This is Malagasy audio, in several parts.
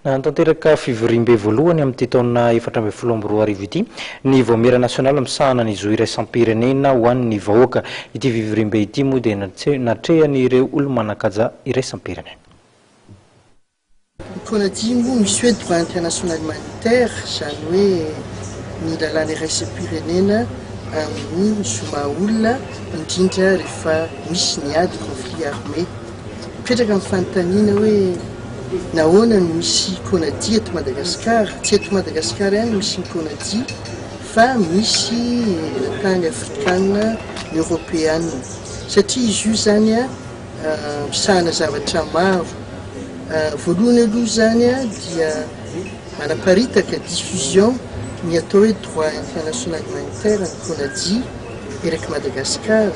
Nanatanteraka fivoriambe voalohany amin'ity taona efatra ambin'ny folo amby roa arivo ity ny Vaomiera Nasionaly misahana ny Zo Iraisam-pirenena ho an'ny Vahoaka. Ity fivoriambe ity moa dia natrehan'ireo olo-manan-kaja iraisam-pirenena. Mikoa naty moa misy hoe droit international humanitaire, izany hoe ny lalàna iraisam-pirenena amin'ny zo maha-olona, indrindra rehefa misy ny ady, conflit armé. Mipetraka ny fanontaniana hoe nahoana no misy Conaty eto Madagasikara? Tsy eto Madagasikara ihany no misy ny Conaty fa misy tany Afrikana, ny Eoropeana satria izy io zany misahana zavatra maro. Voalohany aloha zany dia manaparitaka, diffusion, ny atao hoe droit international humanitaire ny Conaty eraky Madagasikara.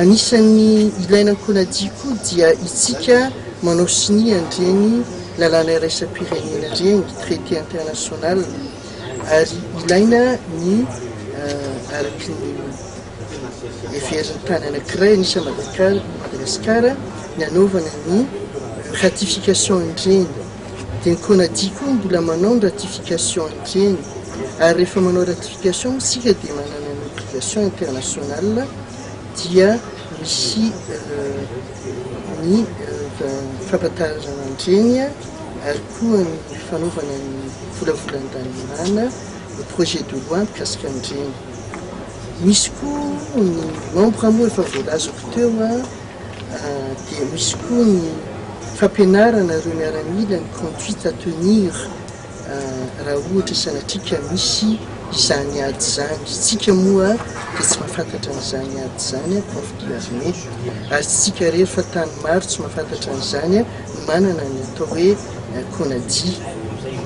Anisan'ny ilaina ankonadia koa dia itsika manao sonia an'ireny lalàna iraisam-pirenena ireny, traité international, ary ilaina ny araka ny heverin'ny tany anankiray an'isa Madagasikara ny hanaovana ny ratification an'ireny. Dia ny Conaty koa mbola manao ny ratification hatreny. Ary rehefa manao ratification isika dia manana ny obligation internationale dia misy ny fampahatanjana an'ireny ary koa ny fanaovana ny volavolan-dalàna ny projet de loi mikasika an'ireny. Misy koa ny membre moa efa voalazako teo. dia misy koa ny fampianarana ireo miaramila ny conduite à tenir raha ohatra sanatria ka misy izany ady izany. Isika moa dia tsy mahafantatra an'izany ady izany an, prof de l'armée, ary isika irery fa tany maro tsy mahafantatra an'izany an, no manana ny atao hoe CONADI.